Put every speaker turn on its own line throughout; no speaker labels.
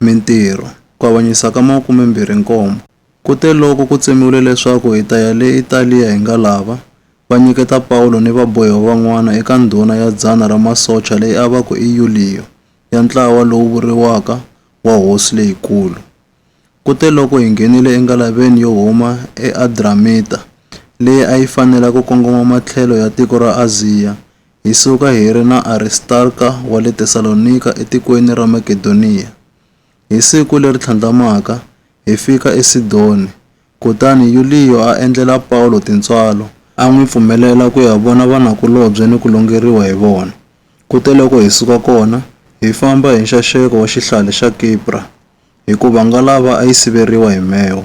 Mintirho, Ku avanyisa ka makumembirhi-nkombo. Kuteloko ku tsemiwile leswaku hi ta ya le Italiya hi nga lava, va nyiketa Pawulo ni vabohiwa van'wana eka ndhuna ya dzana ra masocha leyi a va ku i Yuliyo, ya ntlawa lowu vuriwaka wa hosi leyikulu. Kuteloko hi nghenile engalaveni yo huma eAdramita, leyi a yi fanela ku kongoma matlhelo ya tiko ra Aziya, hi suka hi ri na Aristarka wa le Tesalonika etikweni ra Makedoniya. Hi siku leri tlhandlamaka, hi fika eSidoni, kutani Yuliyo a endlela Pawulo tintswalo, a n'wi pfumelela ku ya vona vanakulobye ni ku longeriwa hi vona. Kuteloko hi suka kona, hi famba hi nxaxeko wa xihlale xa Kipra, hikuva ngalava a yi siveriwa hi mheho.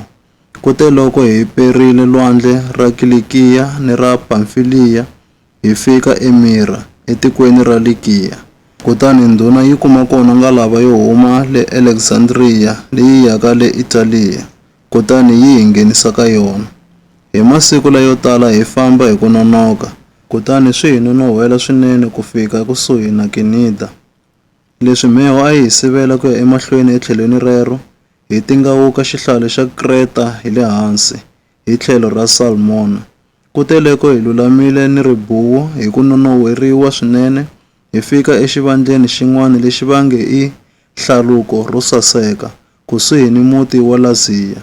Kuteloko hi perile lwandle ra Kilikiya ni ra Pamfiliya, hi fika eMira, etikweni ra Likiya, kutani ndhuna yi kuma kona ngalava yo huma le Aleksandriya leyi yaka le Italiya, kutani yi hi nghenisa ka yona. Hi masiku layo tala hi famba hi ku nonoka, kutani swi hi nonon'hwela swinene ku fika ekusuhi na Kinida. Leswi mheho a yi hi sivela ku ya emahlweni etlhelweni rero, hi tingawuka xihlale xa Kreta hi le hansi, hi tlhelo ra Salmona, kuteleko hi lulamile ni ribuwu hi ku nonon'hweriwa swinene, hi fika exivandleni xin'wana lexi va nge i Hlaluko ro Saseka, kusuhi ni muti wa Laziya.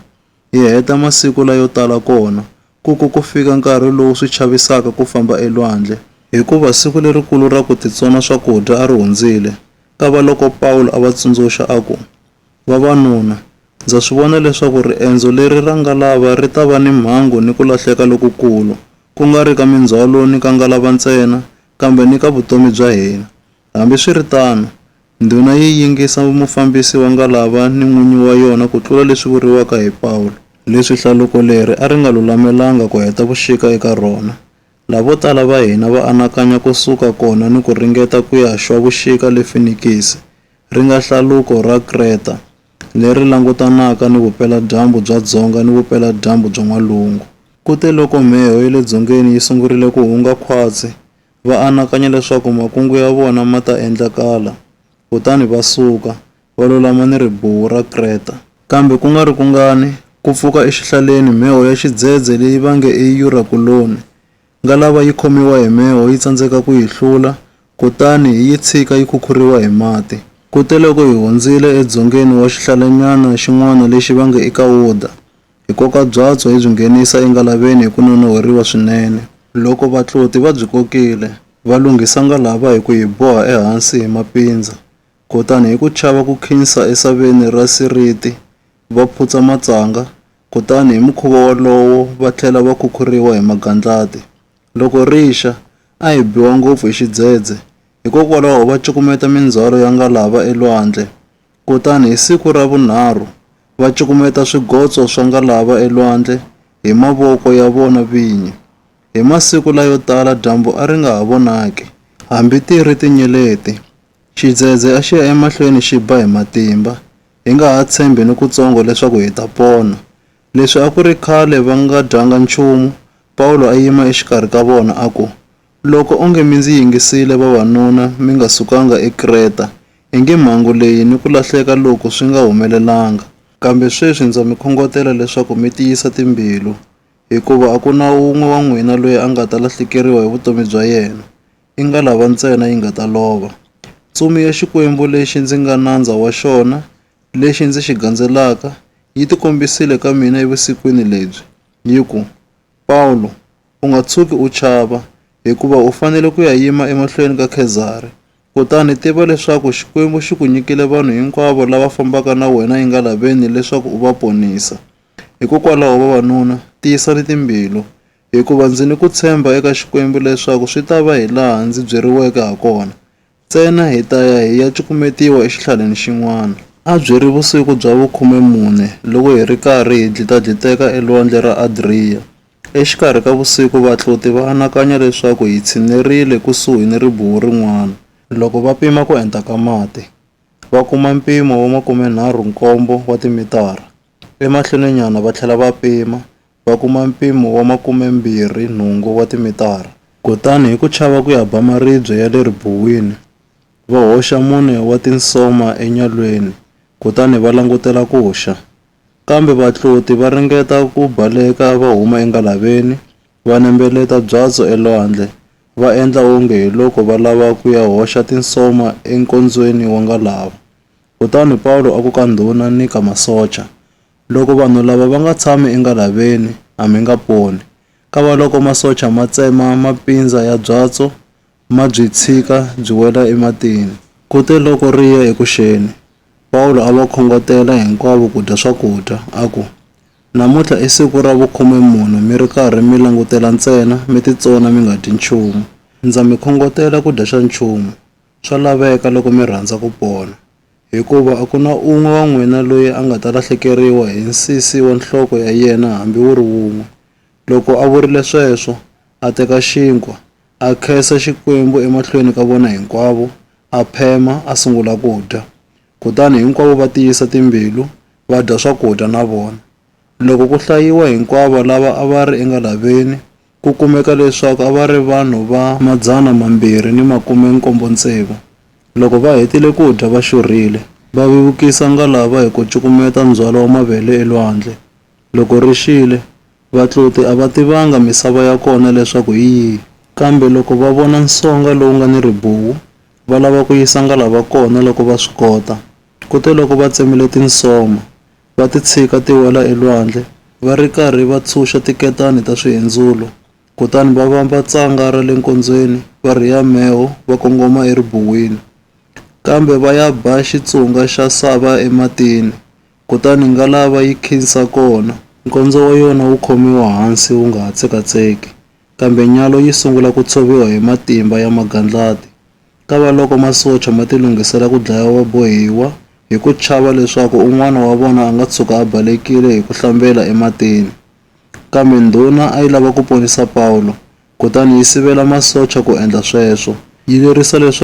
Hi heta masiku layo tala kona, ku ku ku fika nkarhi lowu swi chavisaka ku famba elwandle. Hikuva siku lerikulu ra ku titsona swakudya a ri hundzile, kavaloko Pawulo a va tsundzuxa a ku, Vavanuna, Ndza swi vona leswaku riendzo leri ra ngalava ri ta va ni mhangu ni ku lahleka lokukulu, ku nga ri ka mindzhwalo ni ka ngalava ntsena, kambe ni ka vutomi bya hina. Hambi swi ri tano, ndhuna yi yingisa mufambisi wa ngalava ni n'winyi wa yona ku tlula leswi vuriwaka hi Pawulo, leswi hlaluko leri a ri nga lulamelanga ku heta vuxika eka rona, laha vo tala va hina va anakanya ku suka kona ni ku ringeta ku ya xwa vuxika le Finikisi, ri nga hlaluko ra Kreta, leri langutanaka ni vupela-dyambu bya dzonga ni vupela-dyambu bya n'walungu. Kuteloko mheho ya le dzongeni yi sungurile ku hunga khwatsi, va anakanya leswaku makungu ya vona ma ta endlakala, kutani va suka, va lulama ni ribuwu ra Kreta. Kambe ku nga ri kungani, ku pfuka exihlaleni mheho ya xidzedze leyi va nge i Yurakuloni, Ngalava yi khomiwa hi mheho yi tsandzeka ku yi hlula, kutani hi yi tshika yi khukhuriwa hi mati. Kuteloko hi hundzile edzongeni wa xihlalanyana xin'wana lexi va nge i Kawuda, hi koka byatso hi byi nghenisa engalaveni hi ku nonon'hweriwa swinene. Loko vatloti va byi kokile, va lunghisa ngalava hi ku yi boha ehansi hi mapindza, kutani hi ku chava ku khinsa esaveni ra siriti, va phutsa matsanga, Kutani hi mukhuva wolowo va tlhela va khukhuriwa hi magandlati. Loko ri xa, a hi biwa ngopfu hi xidzedze, hikokwalaho va cukumeta mindzhwalo ya ngalava elwandle. Kutani hi siku ra vunharhu, va cukumeta swigotso swa ngalava elwandle hi mavoko ya vona vinyi. Hi masiku layo tala dyambu a ri nga ha vonaki. Hambi ti ri tinyeleti, xidzedze a xi ya emahlweni xi ba hi matimba. Hi nga ha tshembi nikutsongo leswaku hi ta pona. Leswi a ku ri khale va nga dyanga nchumu, Pawulo a yima exikarhi ka vona a ku, Loko onge mi ndzi yingisile vavanuna mi nga sukanga eKreta, ingi mhangu leyi ni ku lahleka loku swi nga humelelanga. Kambe sweswi ndza mi khongotela leswaku mi tiyisa timbilu, hikuva a ku na wun'we wa n'wina loyi a nga ta lahlekeriwa hi vutomi bya yena. i ngalava ntsena yi nga ta lova. Ntsumi ya Xikwembu lexi ndzi nga nandza wa xona, lexi ndzi xi gandzelaka, yi tikombisile ka mina evusikwini lebyi, yi ku, Pawulo, u nga tshuki u chava, hikuva u fanele ku ya yima emahlweni ka Khezari. Kutani tiva leswaku Xikwembu xi ku nyikile vanhu hinkwavo lava fambaka na wena engalaveni leswaku u va ponisa. Hikokwalaho vavanuna, tiyisani timbilu. Hikuva ndzi ni ku tshemba eka Xikwembu leswaku swi ta va hilaha ndzi byeriweke hakona. Ntsena hi ta ya hi ya cukumetiwa exihlaleni xin'wana. A byi ri vusiku bya vukhume-mune loko hi ri karhi hi dlita-dliteka eLwandle ra Adriya. Exikarhi ka vusiku vatluti va anakanya leswaku hi tshinerile kusuhi ni ribuwu rin'wana. Loko va pima ku enta ka mati, va kuma mpimo wa makume-nharhu-nkombo wa timitara. Emahlweninyana va tlhela va pima, va kuma mpimo wa makume-mbirhi nhungu wa timitara. Kutani hi ku chava ku ya ba maribye ya le ribuwini, va hoxa mune wa tinsoma enyalweni kutani va langutela ku xa. Kambe vatloti va ringeta ku baleka va huma engalaveni, va nembeleta byatso elwandle, va endla onge hi loko va lava ku ya hoxa tinsoma enkondzweni wa ngalava. Kutani Pawulo a ku ka ndhuna ni ka masocha, Loko vanhu lava va nga tshami engalaveni, a mi nga poni. Kavaloko masocha ma tsema mapindza ya byatso, ma byi tshika byi wela ematini. Kuteloko ri ya eku xeni, Pawulo a va khongotela hinkwavo ku dya swakudya, a ku, Namuntlha i siku ra vukhume mune mi ri karhi mi langutela ntsena, mi titsona mi nga dyi nchumu. Ndza mi khongotela ku dya xa nchumu, swa laveka loko mi rhandza ku pona. Hikuva a ku na un'we wa n'wina loyi a nga ta lahlekeriwa hi nsisi wa nhloko ya yena hambi wu ri wun'we. Loko a vurile sweswo, a teka xinkwa, a khensa Xikwembu emahlweni ka vona hinkwavo, a phema, a sungula ku dya. Kutani hinkwavo va tiyisa timbilu, va dya swakudya na vona. Loko ku hlayiwa hinkwavo lava a va ri engalaveni, Ku kumeka leswaku a va ri vanhu va madzana mambirhi ni makume nkombo tsevu. Loko va hetile ku dya va xurhile, va vevukisa ngalava hi ku cukumeta ndzhwalo wa mavele elwandle. Loko ri xile, vatluti a va tivanga misava ya kona leswaku hi yihi. Kambe loko va vona nsonga lowu nga ni ribuwu, va lava ku yisa ngalava kona loko va swi kota. Kuteloko va tsemile tinsoma, va ti tshika ti wela elwandle, va ri karhi va tshunxa tiketani ta swihendzulo. Kutani va vamba tsanga ra le nkondzweni, va rhiya mheho, va kongoma eribuwini. Kambe va ya ba xitsunga xa sava ematini, kutani ngalava yi khinsa kona. Nkondzo wa yona wu khomiwa hansi wu nga ha tsekatseki, kambe nyalo yi sungula ku tshoviwa hi matimba ya magandlati. Kavaloko masocha ma tilunghisela ku dlaya vabohiwa hi ku chava leswaku un'wana wa vona a nga tshuka a balekile hi ku hlambela ematini. Kambe ndhuna a yi lava ku ponisa Pawulo, kutani yi sivela masocha ku endla sweswo, yi lerisa leswaku.